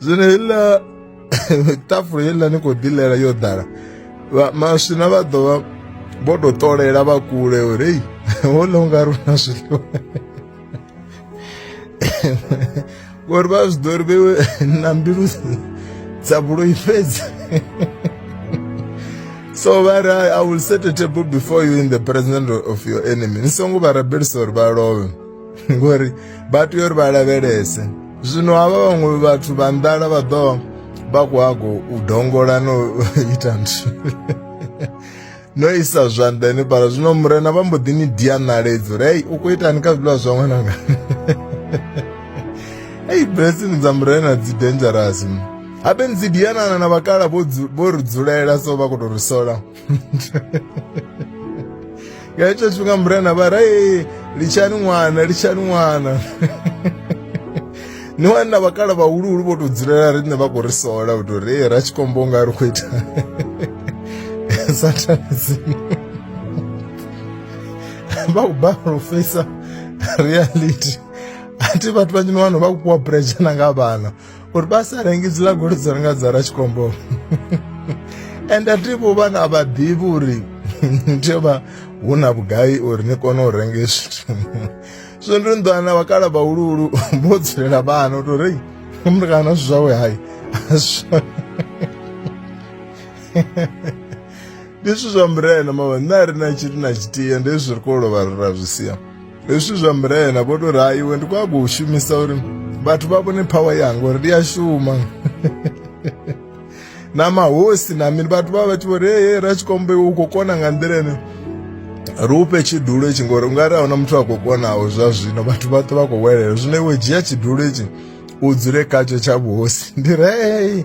zwino heiḽa ṱafula heiḽa ni khou ḓilela yo ḓala maswina vha ḓo vha vho tou ṱolela vha kule uri ei hoḽa u nga ri na zwiḽiwa ngori vha zwi ḓo ri vhewe na mbilu dza vhuloi fhedzi so vha ri i will set a table before you in the presence of your enemy ni songo vha rabelisa uri vha lovhe ngori vha tea uri vha lavhelese zwino havha vhaṅwe vhathu vha nḓala vha ḓo vha khou hago u dongola no ita nthu no isa zwanḓa henefhala zwino murena vha mbo ḓi ni dia ṋaledzo uri hei u khou itani kha zwiḽiwa zwa ṅwananga hei blessing dza murena dzi dangerous habe ni dzi dianana na vhakala vho ri dzulela so vha khou tou ri sola nga ita tshifhinga murena vha ra ee litshani ṅwana litshani ṅwana ni wani na vhakala vhahuluhulu vho tou dzulela riṋe vha khou ri sola u tou ri ee ra tshikombo nga ri khou ita satanism vha khou balelwa u feisa reality a thi vhathu vhanzhi ni wana vha khou fhiwa pressure na nga vhana uri vha sa rengi dzi lagolo dzo renga dza ratshikombo ende a tivho vhana a vha ḓivhi uri ni tea vha hu na vhugai uri ni kone u renga zwithu so ndi nḓwana vhakala vhahuluhulu vho dzulela vhana u tou rei mutukana zwithu zwawe hayi ndi zwithu zwa murena mama nṋe a ri na tshiri na tshithiya ndi zwi ri kho lovha ri ra zwi sia hezwi zwa mbilaela vho tou ra iwe ndi kwago u shumisa uri vhathu vha vhone phawa yanga uri ndi ya shuma na mahosi na mini vhathu vha vha tshi vho ri ee ra tshikombe u khou kona nga nḓila ene ri ufhe tshidulo itshi ngori ungari ahuna muthu a khou konaho zwa zwino vhathu vha ṱo vha khou welela zwino iwe dzhia tshidulo itshi u dzule khatsho tsha vhuhosi ndi rei